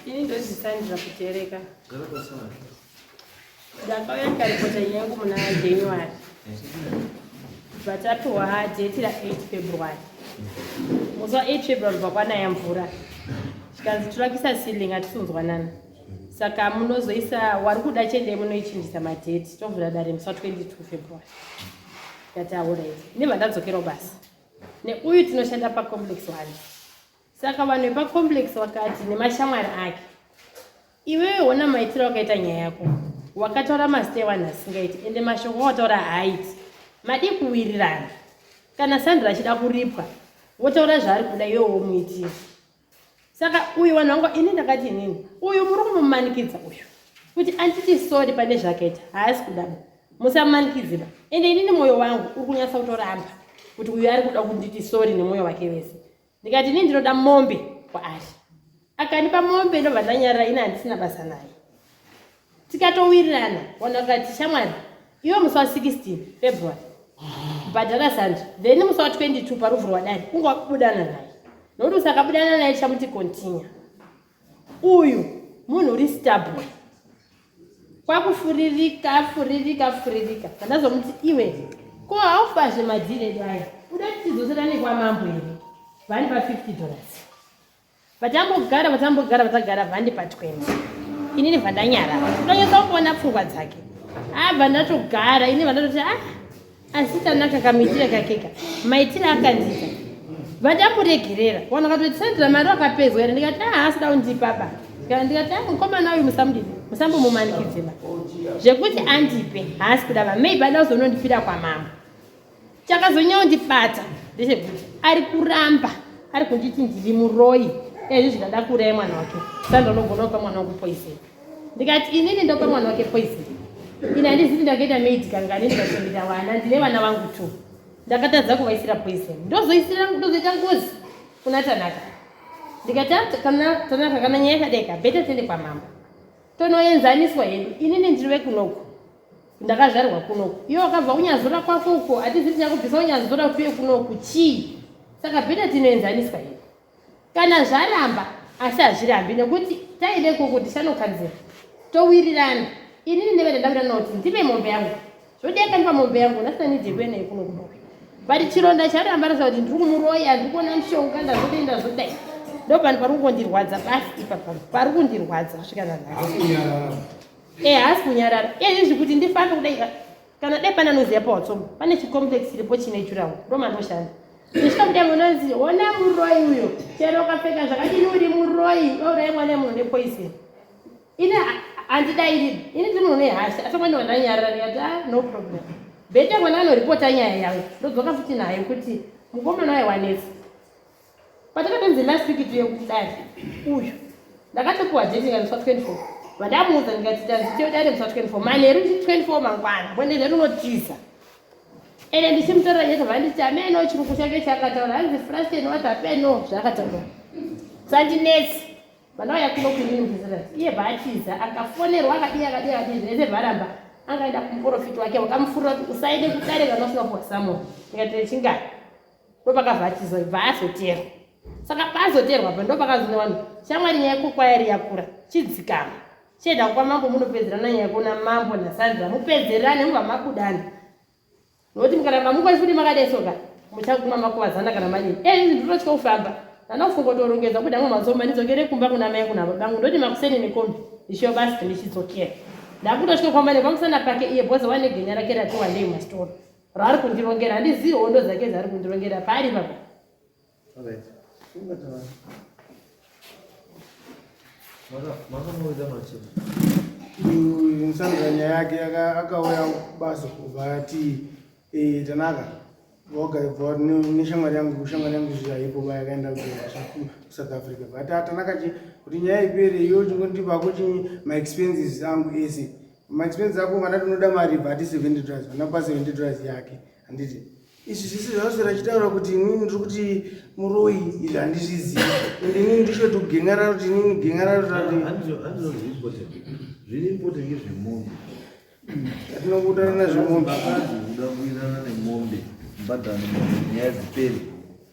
Ini ndozvisandira kutereka. Gara pasana. Ndakauya ndikaripota nyangu muna January. Vatapiwa date ra 8 February. Musi wa 8 February kubva kwanaya mvura. Chikanzi tirakisa ceiling atisunzwanana. Saka munozoisa wari kuda chende munoichinjisa madate tovhura dare musi wa 22 February. Ndati aurayi. Nemandadzokera basa. Neuyu tinoshanda pacomplex wani. Saka vanhu vepacomplex vakati nemashamwari ake, iwewe hona maitiro wakaita nyaya yako, wakataura mazita evanhu asingaiti ende mashoko wataura haaiti, madii kuwirirana? Kana Sandra achida kuripwa, wotaura zvaari kuda iwe womuitira. Saka uyu vanhu vangu, ini ndakati inini, uyu muri kumumanikidza uyu kuti anditi sori pane zvakaita, haasi kudaba, musamumanikidziba. Ende inini mwoyo wangu uri kunyatsa kutoramba kuti uyu ari kuda kunditi sori nemwoyo wake wese. ndikati ini ndinoda mombe kwaari akandipa mombe ndobva ndanyarira ini handisina basa naye tikatowirirana ona kukati shamwari iwe musi wa 16 february bhadhara zandi then musi wa 22 paruvhu rwadari kunge wakubudana naye nokuti usakabudana naye chamuti continue Uyu munhu uri stubborn. Kwakufuririka, furirika, furirika. Kandazomuti iwe. Ko haufazve madhiri edu aya. Uda kuti tidzosera nekwamambo here? Vani pa 50 dollars. Vatambogara, vatambogara, vatagara vandi pa 20. Inini vandanyara. Unonyesa kuona pfungwa dzake. Abva ndatogara, ini vandatoti ah asi tanaka kamuitire kakeka maitire akanzika vadamuregerera vanhu vakatoti sandra mari wakapedzwa here ndikati aa ah, asida kundipaba kana ndikati aa ah, mukomana uyu musamudii musambomumanikidzeba zvekuti andipe haasi kuda vamei bada kuzonondipira kwamambo chakazonyanya kundibata ndechekuti ari kuramba ari kunditi ndiri muroyi ezvi zvikada kuraya mwana wake sandra unogona kupa mwana wekupoiseni ndikati inini ndopa mwana wake poison ini handizivi ndakaita maid kangani ndikachengeta vana ndine vana vangu two ndakatadza kuvaisira poison ndozoisira ndozoita ngozi kuna tanaka ndikati kana tanaka kana nyaya yakadaika beta tiende kwamambo tonoenzaniswa hedu inini ndiri vekunoku ndakazvarwa kunoku iwe wakabva kunyazura kwako uko hatizivi tichakubvisa unyazura kuye kunoku chii saka beta tinoenzaniswa hedu kana zvaramba asi hazvirambi nekuti taide kuku tisanokanzira towirirana inini ndeve ndandawirirana kuti ndive mombe yangu zvodi akandipa mombe yangu ndasina nidye kuenda ikuno kuboka but chironda charamba rasa kuti ndiri kumuroya ndiri kuona mushonga ndazodai ndazodai ndopani pari kukondirwadza pasi ipapa pari kundirwadza kusvika nanhasi ehaasi eh, kunyarara ezvi eh, kuti ndifambe kudai kana dai pane anoziva pawatsoma pane chicomplex chiripo chine jurawo ndomanoshanda zvichikamudai munonzi hona muroyi uyo chero ukapfeka zvakadini uri muroyi ourayi mwana yemunhu nepoison ini handidairi ini ndi munhu nehasha asi mwana wandanyarira ndikati a ah, no problem bete mwana anoripota nyaya yangu ndodzoka futi nayo kuti mukomana waye wanetsa Patakatonzi last week tuye kudare uyu ndakatopiwa date ndikaendeswa 24 vandamuudza ndikati tanzi tiye dare ndiswa 24 manheru ndi 24 mangwana kwendenda rinotiza ende ndichimutorera nyete vanditi ameno chiruku chake chakataura hanzi frasten wati apeno zvakataura sandinetsi vana vaya kuno kunini muzirasi iye baatiza akafonerwa akadii akadii akadii zvese varamba angaenda kumuporofiti wake wakamufurira kuti usaende kudare kana usina kuwa samoni ndikati chingani ndopakabva achizobva azoteerwa saka paazoteerwa pa ndopakazona vanhu shamwari nyaya kokwayari yakura chidzikama chienda kupa mambo munopedzerana nyaya kuona mambo nasandra mupedzerane mubva makudana nokuti mukaramba mukoni futi makadesoka muchaguma makuvadzana kana manyini e izvi ndinototya kufamba ndanofunga torongedza kuda mwe mazomba ndidzokere kumba kuna mai kuna babangu ndoti makuseni nekombi ndishiyo basi ndichidzokera ndakutotya kwamane kwamusana pake iye bhoza wane genya rake ratiwandei mastora raari kundirongera handizivi hondo dzake dzaari kundirongera paari papa musanza nyaya yake akauya basa kubva ati eh, tanaka voga ibva neshamwari yangu kushamwari yangu zvaipo ba yakaenda kusouth africa but atanaka kuti nyaya ipere iyo chingondipa kuchi maexpenses angu ese ma expense ako kana tinoda mari bva ati 70 dollars vanapa 70 dollars yake handiti izvi zvese zvavaswera achitaura kuti inini ndiri kuti muroyi izvi handizvizivi and inini ndisho kuti kugengararo kuti inini gengararo tati zviri important ngezvemombe atinokuutana nazvemombe akazi kuda kuirana nemombe mbadhano nyaya dziperi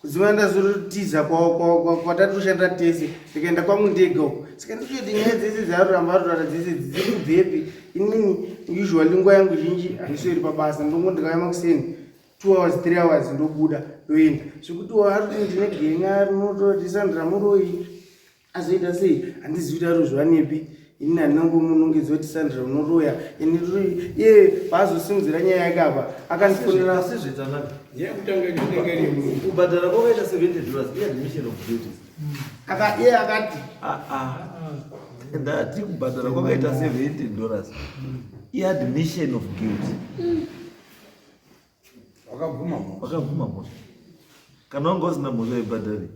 kuziva ndazotiza kwatatoshandira tese ndikaenda kwangu ndega uko saka nditoti nyaya dzese dzaaruramba arurara dzese dziri kubvepi inini usually nguva yangu zhinji handisweri pabasa ndongo ndikauya makuseni two hours three hours ndobuda ndoenda zvekuti ari ndine genya rinototisandira muroyi azoita sei handizi kuita ruzva nepi ini handinangomunongedzwa kuti sandra unoroya ini iye paazosimudzira nyaya yake apa akandifonera kubhadhara kwakaita 70 dollars iadmission of duties iye akati ah, ah. ndati kubhadhara kwakaita 70 dollars iadmission of guilt wakabvuma mhosva kana wanga usina mhosva ibhadhari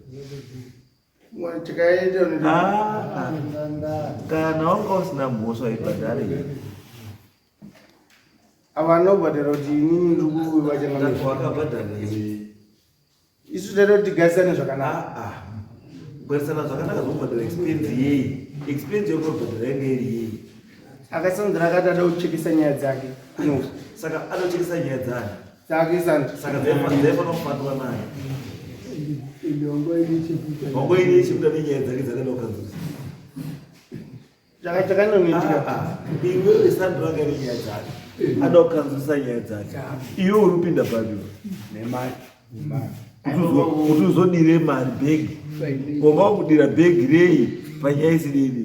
Ah, kana wanga usina mhosva ibhadhare avanobhadhara kuti inini ndikuwakabhadhara isu taita kuti tigarisane zvakanaka ah, ah. kugarisana zvakanaka zvokubhadhara expense yeyi expense yokubhadhara yanga iri yeyi akasanzira akati ada kuchekesa nyaya dzake saka anochekesa nyaya dzake adokanzwisa nyaya dzake iwe uri kupinda padio kuti uzodire mari bhegi ngomba kudira bhegi rei panyaya isididi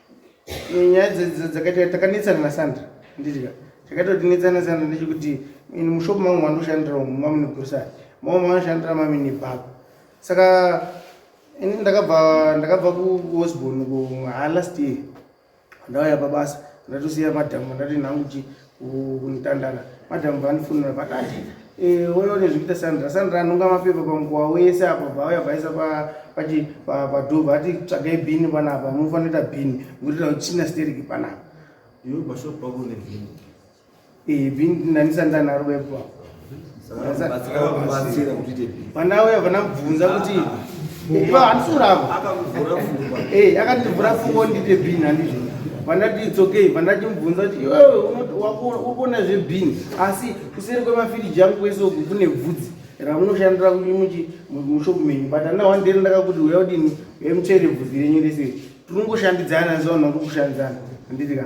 nyaya dzakaita takanetsana nasandra ndidya chakaita kuti netsana sandra ndechekuti ini mushopu mangu mandoshandira umu mamune grocery mama manoshandira mami nebhako saka ini ndakabva ndakabva kuosborn kuhala stie ndauya pabasa ndatosiya madhamu ndati nhangu chii kunotandara madam vanifunira pakati eh, oyo nezvikuita sandra sandra anonga mapepa pamukuwa wese apa bvauya bvaisa pachi padhova ati tsvagai bhini panapa munofanira kuita bhini ngurira kuti china steriki panapa iwe bashop pako nebhini eh, bhini ndanisandanaro baipo apa vanauya vanabvunza kuti akandivhura fungo ndite bin handizvo vandati its okay vandachimubvunza kuti iwewe ukuona zvebin asi kuseri kwemafiriji angu kwese uku kune bvudzi ramunoshandira kuti mushopu menyu but andina wandiri ndakakuti uya kudini uya muchaire bvudzi renyu rese tinongoshandidzana zvaunongokushandidzana handiti ka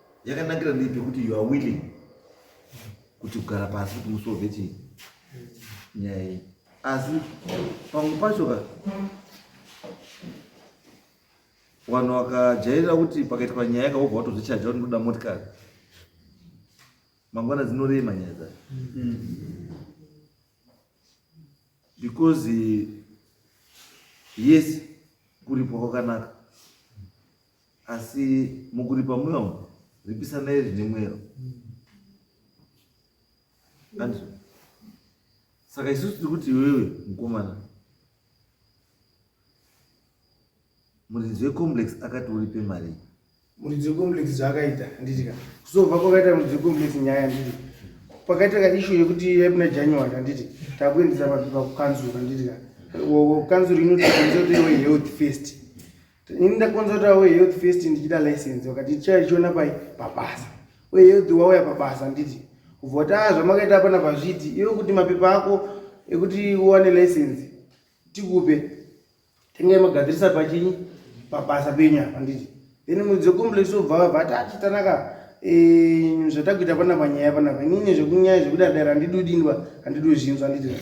yakanakira ndipi kuti you are willing kuti kugara pasi kuti musolve chii nyaya iyi asi pamwe pacho ka vanhu vakajairira kuti pakaitwa nyaya ka wobva watozvichaja kuti ndoda motikari mangwana dzinorema nyaya dzacho because yes kuripwa kwakanaka asi mukuripa mweya umu ripisanai zvine mwero andri saka isusu tiri kuti iwewe mukomana muridzi wecomplex akati uripe mari muridzi wecomplex zvaakaita anditika kusova kwakaita muridzi wecomplex nyaya anditi pakaita kaishu yekuti yamuna january anditi takuendesa pakukanzura anditika kanzura inotikanzura toiwe health first ini ndakonzertawo health first ndichida license wakati tichaichiona pai pabasa uye health wauya pabasa handiti kubva kuti aa zvamakaita apana pazviti iwe kuti mapepa ako ekuti uwane license tikupe tengai magadzirisa pachinyi pabasa penyu apa handiti then mudzo complex obva vabva ati achitanaka eh, zvatakuita panapa nyaya panapa inini zvekunyaya zvekuda dara handidudinwa handidozvinzwa handiti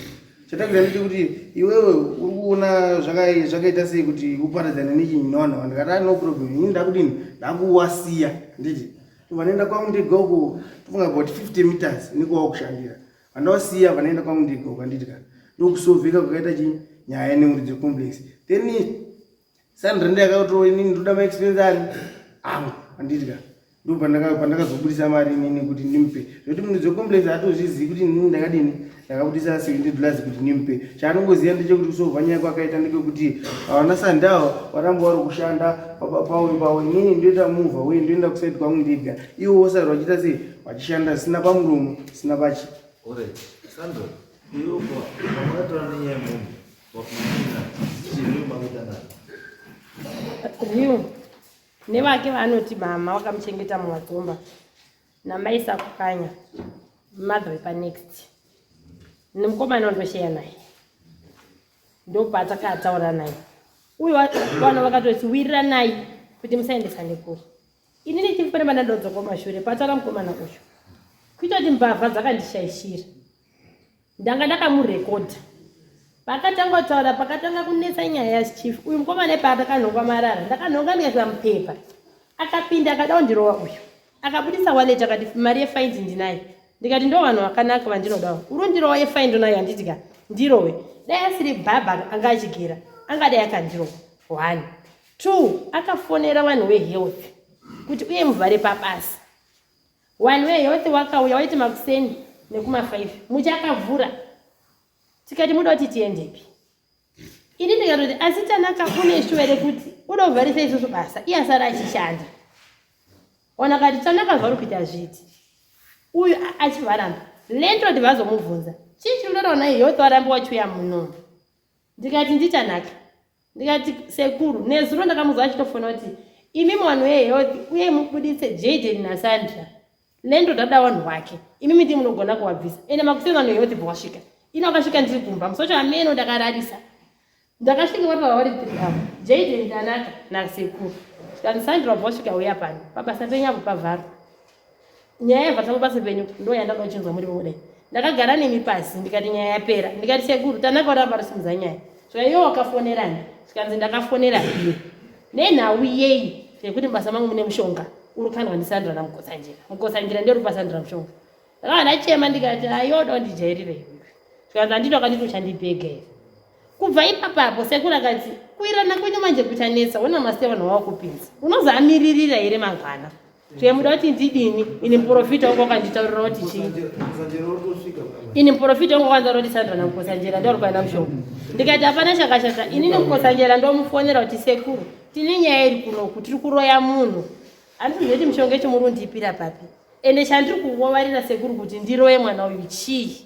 Chatanga nditi kuti iwewe uri kuona zvakaita sei kuti uparadzane nechinyi nevanhu ava ndikati no problem ini ndakudini ndakuwasiya nditi vanoenda kwangu ndega uko tofunga about 50 meters niko wakushandira vandawasiya vanoenda kwangu ndega uko anditi ka ndokusovheka kwakaita chii nyaya yeneuri dzecomplex then Sandra ndiye akautoa inini ndoda ma expense ari angu andidya ndipo pandakazobudisa mari inini kuti ndimpe zvekuti munhu dzecomplex atozvizivi kuti inini ndakadini ndakabudisa seventy dollars kuti ndimpe chaanongoziva ndechekuti kusova nyaya kwakaita ndekekuti havana sandawo varamba vari kushanda pawe pawe inini ndoita muvha uye ndoenda kusaidi kwangu ndiga iwo wosari vachiita sei vachishanda zvisina pamuromo zvisina pachi Sandra, you are, I'm not running a movie. Riu nevake vanoti mama wakamuchengeta mumatomba namai sakukanya mother wepanext nemukomana wandosheya naye ndopatakataura naye uye vana vakatoti wiriranai kuti musaendesa nekuru ini nechii pane vanadodzoka mashure pataura mukomana uyu kuita kuti mbavha dzakandishaishira ndanga ndakamurekodha pakatanga kutaura pakatanga kunetsa nyaya yachief uyu mukomana ipa akakanhongwa marara ndakanhonga ndikaisa mupepa akapinda akada kundirova uyu akabudisa wallet akati mari yefaini ndinayo ndikati ndo vanhu vakanaka vandinodawo uri ndirova yefaini ndonayo handitika ndirove dai asiri bhabha anga achigera angadai akandirova one two akafonera vanhu wehealth kuti uye muvhare pabasa one way yose wakauya waiti makuseni nekuma five muchakavhura tikati muda kuti tiendepi ini ndikatoti asi tanaka une shuwa here kuti uda kuvharisa isusu basa iye asara achishanda ona kati tanaka zvauri kuita zviti uyu achivaramba lentoti vazomubvunza chii chiri kutotaura naye yotwarambi wachiuya muno ndikati nditanaka ndikati sekuru nezuro ndakamuza achitofona kuti imi mwana wehealth uye mubuditse jaden nasandra lendo dada wanhu wake imi miti munogona kuwabvisa ende makuseni vanhu vehealth bwasvika ina vakasvika ndiri kumba musocho ameno ndakararisa ndakasvika vari vava vari tiri avo jaden tanaka nasekuru tikati sandra bwasvika uya pano pabasa penyu apo pavharwa nyaya yabva tangu pasi penyu ndo yandada uchinzwa muri vode ndakagara nemi pasi ndikati nyaya yapera ndikati sekuru tanaka uramba rusimudza nyaya saka iwe wakafonerani zvikanzi ndakafonera iye nenhau yeyi yekuti mubasa mangu mune mushonga uri kandwa ndisandira namukotsanjira mukotsanjira ndiri pasandira mushonga ndakava ndachema ndikati ayoda undijairire zvikanzi andito akanditi uchandibhega here kubva ipapapo sekuru akati kuirana kwenyu manje kuchanetsa wena maste vanhu wawakupinza unozamiririra here mangwana Chero muda kuti ndidini ini muporofita wangu wakanditaurira kuti chii ini muporofita wangu wakanditaurira kuti sandra namukosanjera ndori kwaina mushonga ndikati hapana chakashata ini nemukosanjera ndomufonera kuti sekuru tine nyaya iri kunoku tiri kuroya munhu andizive kuti mushonga chimuri undipira papi ende chandiri kuvovarira sekuru kuti ndiroye mwana uyu chii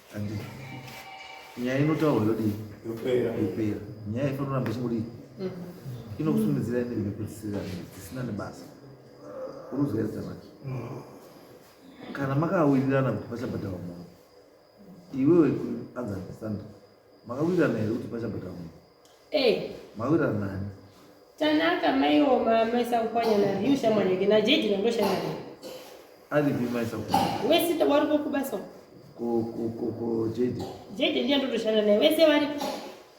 Andi nyaya inotaurwa yodii? Yopera. Yopera. Nyaya inotoramba ichingodi inokusundidzira ende nekupedzisira dzisina nebasa. Unozwa zita manje. Kana makawirirana kuti pachabhadharwa munhu. Iwewe anza understand. Makawirirana here kuti pachabhadharwa munhu? Hey. Mawira mani. Tanaka mai oma mai sakupanya na yu shamwari yake na jeji na ndosha na. Ali bi mai sakupanya. Wewe sita wari ko kubasa. Ko ko ko ko jeji. Jeji ndiye ndo toshana naye. Wewe se wari.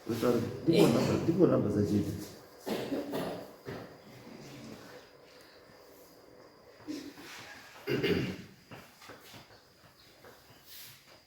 Wewe sari. Ndipo eh. namba ndipo namba za jeji.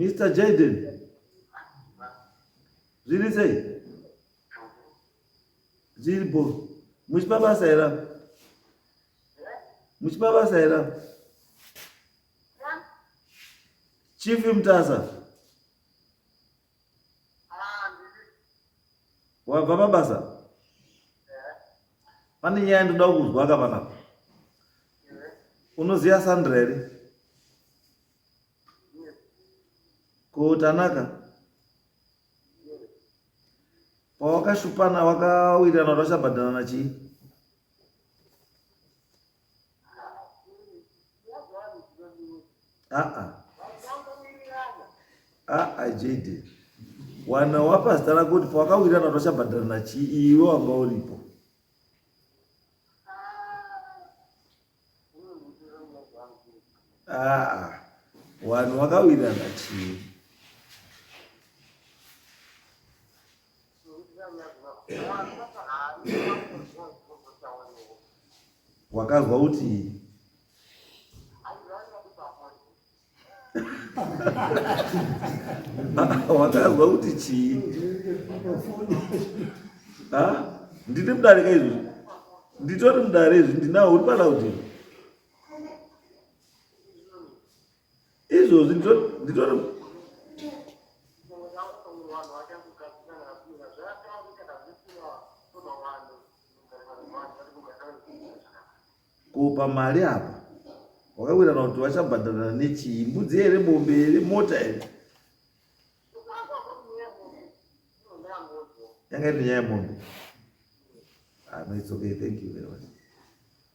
Mr. Jaden, zviri sei? Zviri bo, muchipa basa here? Muchipa basa here? Chief Mtasa. wabva pabasa pane nyaya yandoda kuzwa ka panapa unoziva sandra here ko tanaka pawakashupana wakawirirana kuti vachabhadharana chii aa aa JD wana wapasita rako kuti pawakawirana kuti wachabhadharana chii iwe wanga uripo aa wanhu wakawirana chii wakanzwa kuti wakanzwa kuti chii ndine mudarika izvi nditori mudare izvi ndinawo uri palaudini izvozvi nditori kupa mari apa wakawirana kuti vachabhadharana nechii mbudzi here mombe here mota here yanga iri nyaya yemombe ah, no it's okay thank you very much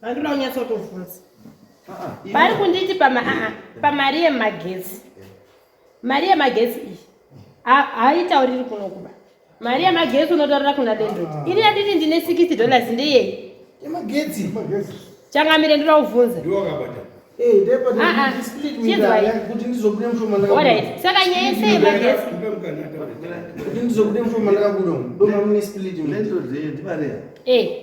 Handina kunyatsa kutovhunza. Vari kunditi pama aha pamari yemagetsi. Mari yemagetsi iyi haitauriri kuno kuba. Mari yemagetsi unotaurira kuna Dendro. Ini yanditi ndine 60 dollars ndeyei? Yemagetsi. Changamire ndira kuvhunza. Ndiwo akabata. Eh, ndipo ndi split with her. Kuti ndizobude mshoma ndaka. Alright. Saka nyaya yese yemagetsi. Kuti ndizobude mshoma ndaka kuno. Doma mune split. Ndendro zee ndibare. Eh.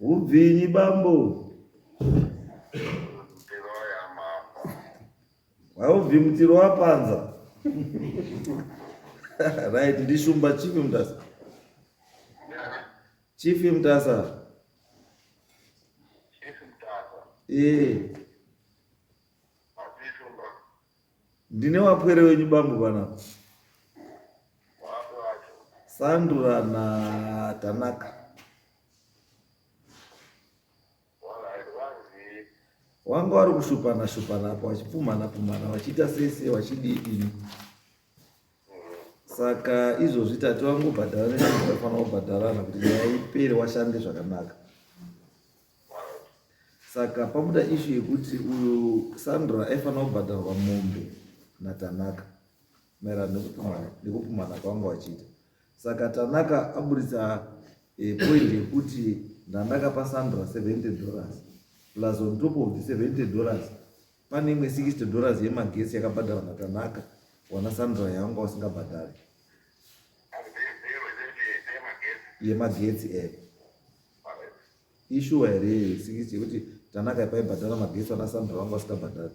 Hubvinyi bambo? Tiroya mambo. Haubvi mutiro wapanza. right, ndishumba chief mtasa. Chief mtasa. Chief mtasa. Eh. Ndine wapwere wenyu bambo bana. Sandura na Tanaka. wanga wari kushupana shupana apo wachipumhana pumhana wachiita sese wachidii ini saka izvozvi tati wangobhadhara neafanira kubhadharana kuti nyaya ipere washande zvakanaka saka pabuda ishu yekuti uyu sandra aifanira kubhadharwa mombe natanaka maererano nekupumhana kwanga wachiita saka tanaka aburitsa eh, point yekuti ndandakapa sandra 70 dollars plus on top of the 70 dollars pane imwe 60 dollars yemagesi yakabhadhara natanaka wana sandra yanga wasingabhadhari yemagetsi e eh. ishuwa here 60 yekuti tanaka paibhadhara magesi wana sandra wanga wasingabhadhari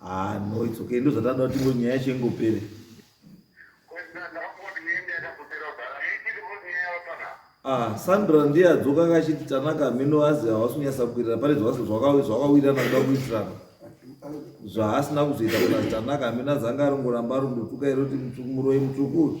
Ah, no, it's okay. Ndo zvatanda kuti ngo nyaya yacho ingopere. Ah, Sandra ndiye adzoka akachiti Tanaka mino azi hawasi kunyasa kukwirira pane zvawasi zvakawirana kuda kuitirana. Zvaasina kuzoita kuna Tanaka mino azanga arongoramba arondotuka iro kuti mutsvuku muroyi mutsvuku.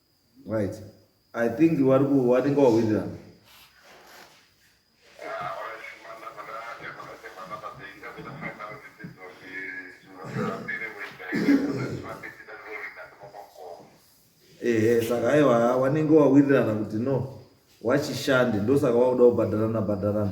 Right. I think vari ku watenga wawirira. Ehe, eh, saka aiwa wanenge wawirirana kuti no wachishande ndosaka wakuda kubhadharana bhadharana.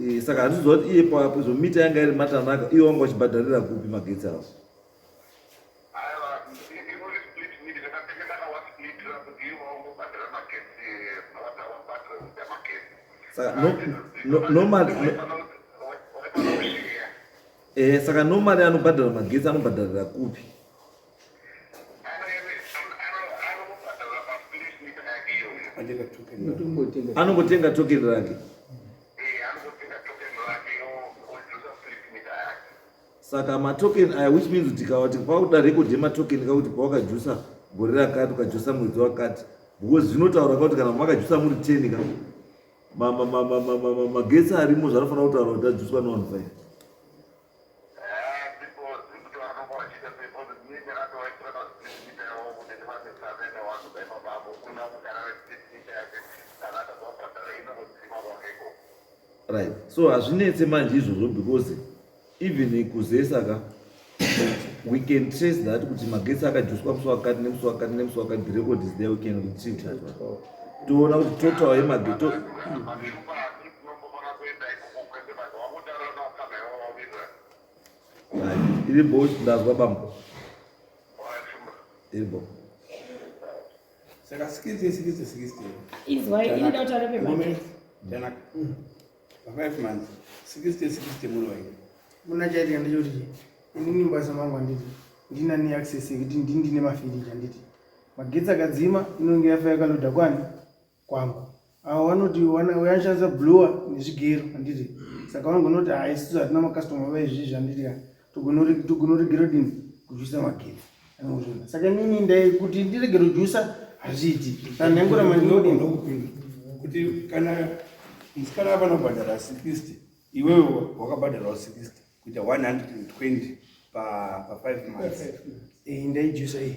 Eh, saka handiziva kuti iye papo izvo mita yanga iri matanaka iye wanga wachibhadharira kupi magetsi awo saka normally eh, anobhadhara magetsi anobhadharira kupi anongotenga tokeni rake saka matokeni aya which means kuti kawati kwakuda rekodhi yematokeni kakuti pawakajusa gore rakati ukajusa mwedzi wakati because zvinotaura kakuti kana makajusa muri ten ka magetsi arimo zvanofanira kutaura kuti ajuswa neone five right so hazvinetse manje izvozvo because even kuzesa ka we can trace that kuti magetsi akajuswa musi wakati nemusi wakati nemusi wakati the record is there we can retrieve that one toona kuti total yemagetsi iri bo ndazwa bambo iri bo saka sikisi sikisi sikisi izwai ini dauta repe manje janaka pa five months sikisi sikisi muno wai muna chaitika ndechoti inini mbasa mangu anditi ndina ne access yekuti ndini ndine mafiriji anditi magetsi akadzima inonge yafa yakaloda kwani kwangu avo vanoti vanoshandisa bluer nezvigero handiti saka vangonoti ha isisu hatina makastoma vaizvizvi handiti ka togonoregera dini kujusa magero anozvona saka inini ndai kuti ndiregero jusa hazviiti kana ndaingura mandiodini kuti kana musikana avanobhadhara 60 iwewe wakabhadharawo 60 kuita 120 pa 5 months eh, ndaijusa iyi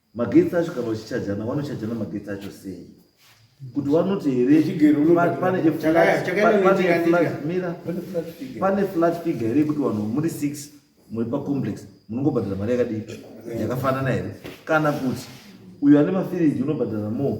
magetsi acho kana uchichajana vanochajana magetsi acho sei kuti vanoti here pane flat figure here yekuti vanhu muri six muri pacomplex munongobhadhara mari yakadii yakafanana here kana kuti uyo ane mafiriji unobhadhara more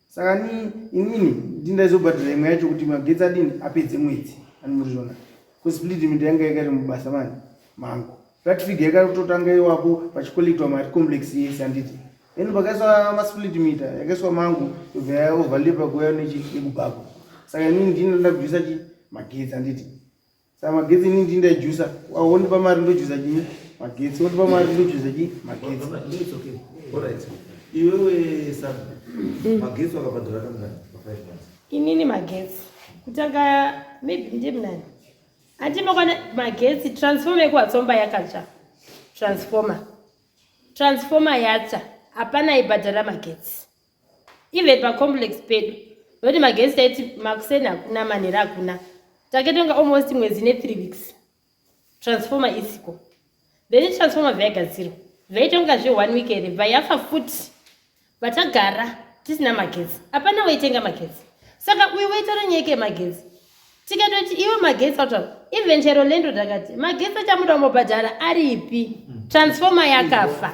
saka ni inini ndi ndaizobhadhara imwe yacho kuti magetsi adini apedze mwedzi ani murizvona bcause split mint yanga yakari mubasa mani mangu flat figure yakatotanga iwapo pachikollectwa mari complex yese anditi then pakaiswa masplit mita yakaiswa mangu yobva yaoverlepa kuya nechi yekubhako saka inini ndini ndoda kubvisa chi magetsi anditi Saka magetsi ini ndini ndaijusa. Wondipa mari ndojusa chii? Magetsi wondipa mari ndojusa chii? Magetsi. It's okay. All right. Iwewe Sabu, magetsi wakabhadhara kamngani pa 5 months? Inini magetsi. Kutanga maybe ndimnani. Andimokwana magetsi transformer yekuwatsomba yakatsva. Transformer. Transformer yatsva. Hapana ibhadhara magetsi. even pacomplex pedu noti magezi taiti makuseni hakuna manhera hakuna taketonga almost mwedzi nethree weeks transformer isiko then transformer vaigadzirwa vaitonga zve one week here vayafa futi vatagara tisina magetsi apana waitenga magetsi saka uyu waitora nyaya yeke magetsi tikatoti iwe magetsi autaura even chero lendo takati magetsi achamuda umobhadhara aripi transformer yakafa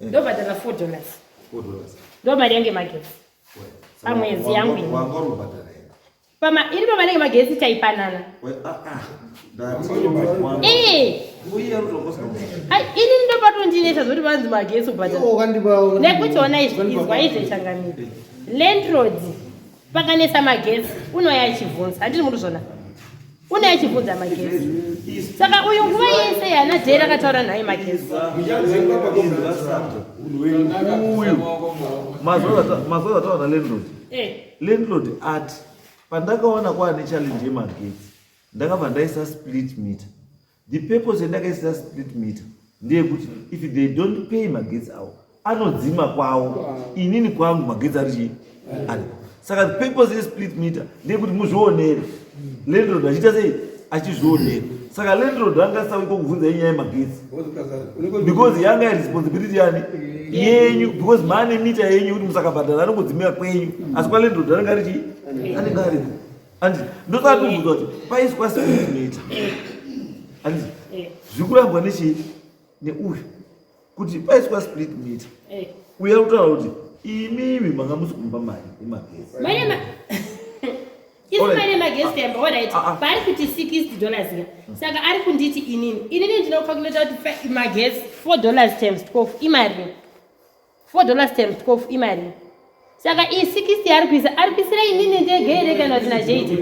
ndobhadhara four dollars ndo mari yange magetsi pamwedzi yangu iri pamari yange magetsi taipanana ini ndopatondinetsa zoti vanzi magetsi ubhadharanekuti ona izwa izvechangamira landroad pakanetsa magetsi unoya achivhunza handiri munhu zvona une achibvunza magezi saka uyu nguva yese yana dhera akataura nhai magezi mazuva ataura landlord eh. landlord ati pandakaona kwaane challenge yemagetsi ndakabva ndaisa split meter The purpose yandakaisa split meter ndeyekuti if they don't pay magetsi avo anodzima kwavo inini kwangu magetsi ari chii ari saka the purpose yesplit meter ndeyekuti muzvionere landlord achiita sei achizvionere saka landlord anga asauiko kubvunza yenyaya yemagetsi because yanga yeresponsibility yani yenyu because maane mita yenyu kuti musakabhadhara anongodzimira kwenyu asi kwalandlord anenge ari chii anenge ariko Andi ndoda kubvunza kuti paiswa speed meter. Andi eh. zvikurambwa nechi neuyu kuti paiswa split meter. Eh. Uya utaura kuti imi imi manga musi kumba mari yemagesi. Mari yemagesi. Isu mari yemagesi yamba wadaiti paari kuti 60 dollars ya. Saka ari kunditi inini. Inini ndinofa kunoita kuti magesi 4 dollars times 12 imari. 4 dollars times 12 imarii saka iyi 60 yaari kuisa ari kuisira inini ndege here kana kuti najeite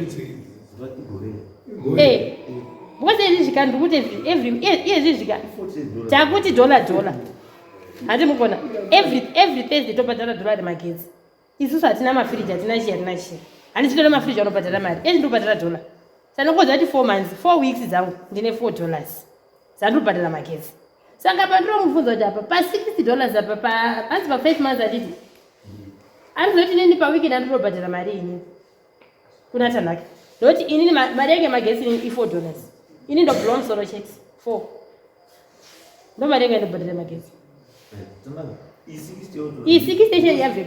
eh, because izvi zvika ndikuti iyezvi zvika takuti dollar dollar handi mukona every thursday tobhadhara dollar remagetsi isusu hatina mafiriji hatina chii hatina chii handisi kutoda mafiriji anobhadhara mari eti ndobhadhara dollar sanongoziva kuti four months four weeks dzangu ndine four dollars dzandobhadhara magetsi saka pandinomubvunza kuti apa pa60 dollars apa paanzi pa5 months atiti anizoti nini paweekend andinobhadhara mari ini kuna tanhaki ndokuti inini mari yange magesi inini i4 dollars ini ndobhula musoro chete four ndo mari yange ndobhadhara magesi iyi six station yabve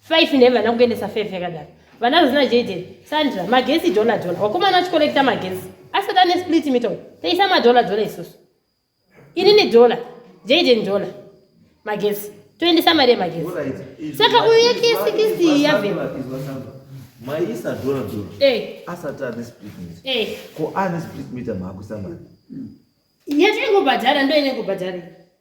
Five ne vana kuendesa five yakadaro. Vana vazina Jaden, Sandra, magesi dollar dollar. Wakomana achikolekta magesi. Asati ane split meter. Taisa madola dola isusu. Ini ne dollar. Jaden dollar. Magesi. Toendesa mari yemagesi. Saka uyu yake sikisi yave. Maisa dollar dollar. Eh. Asati ane split meter. Eh. Ko ane split meter maakuisa mari. Yatengobhadhara ndoine kubhadhara.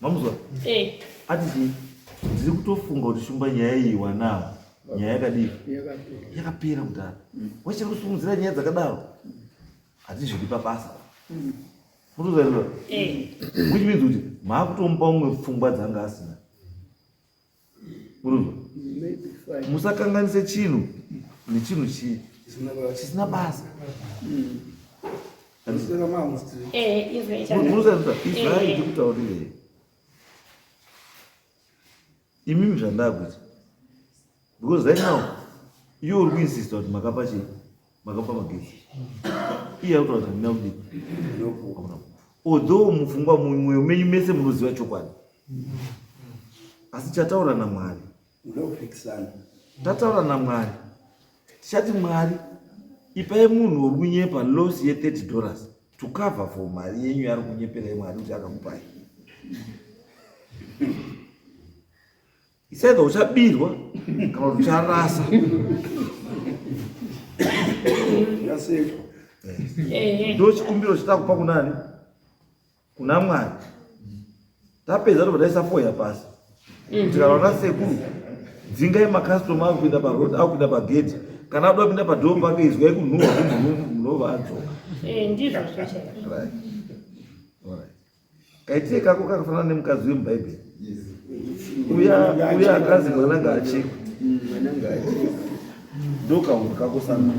Mamuzwa? Eh. Ati chii? Ndiri kutofunga kuti shumba nyaya iyi wanao. Nyaya yakadii? Yakapera mudhara. Mm. Wachiri kusumudzira nyaya dzakadaro. Hatizvidi pabasa. Mm. Mutozvaizwa? Eh. Which means kuti maakutomupa umwe pfungwa dzanga asina. musakanganise chinhu nechinhu chii chisina basa israeri ndikutaurirei imimi zvandakuti because right now iyo uri kuinsista kuti makapa chii makapa magetsi iye akutoratidza kuti ndina kudii although mufungwa mumwe menyu mese munoziva chokwadi asi chataura namwari tataura namwari tichati mwari ipai munhu uri kunyepa loss ye 30 dollars to cover for mari yenyu yaari kunyeperai mwari kuti akakupai isaidha uchabirwa kana kuti ucharasa ndo chikumbiro chitakupa kunani kuna mwari tapedza tobva taisafoya pasi mm. tikanaona sekuru dzingai makastoma ari kuenda parod ari kuenda pagedhi kana adoda kupinda padhoo pake izwai kunhuwa munova adzoka eh, ndizvo Kaite kako kakafanana nemukadzi wemubhaibheri uya uya akazi mwana ngaachekwe ndokaunhu kako sana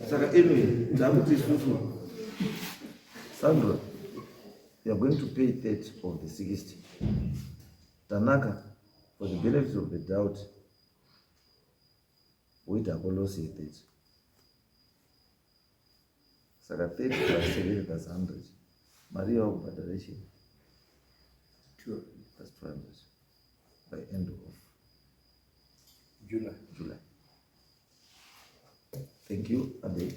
saka anyway takuti isusu sandra you are going to pay 30 of the 60 tanaka for the benefits of the doubt Wait hako loss ye 30. Saka 30 plus 7 plus 100. Mari yawo kubhadhara ichi. 200 plus 200 by end of July. July. Thank you, Abe.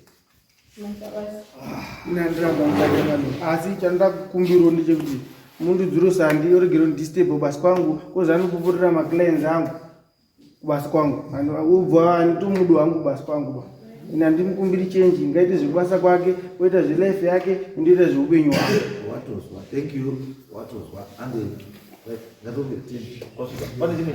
asi chandoda kukumbirwo ndechekuti mundu dzuro sandi yoregero disturbo basi kwangu kozanopupurira maclients angu kubasa kwangu ubva anditomudi wangu kubasa kwangu ba ini handimukumbiri chenji ngaite zvekubasa kwake oita zvelife yake indoita zveupenyu wake watozwa thank you watozwa ange ngatombe ten wasvika pane chimwe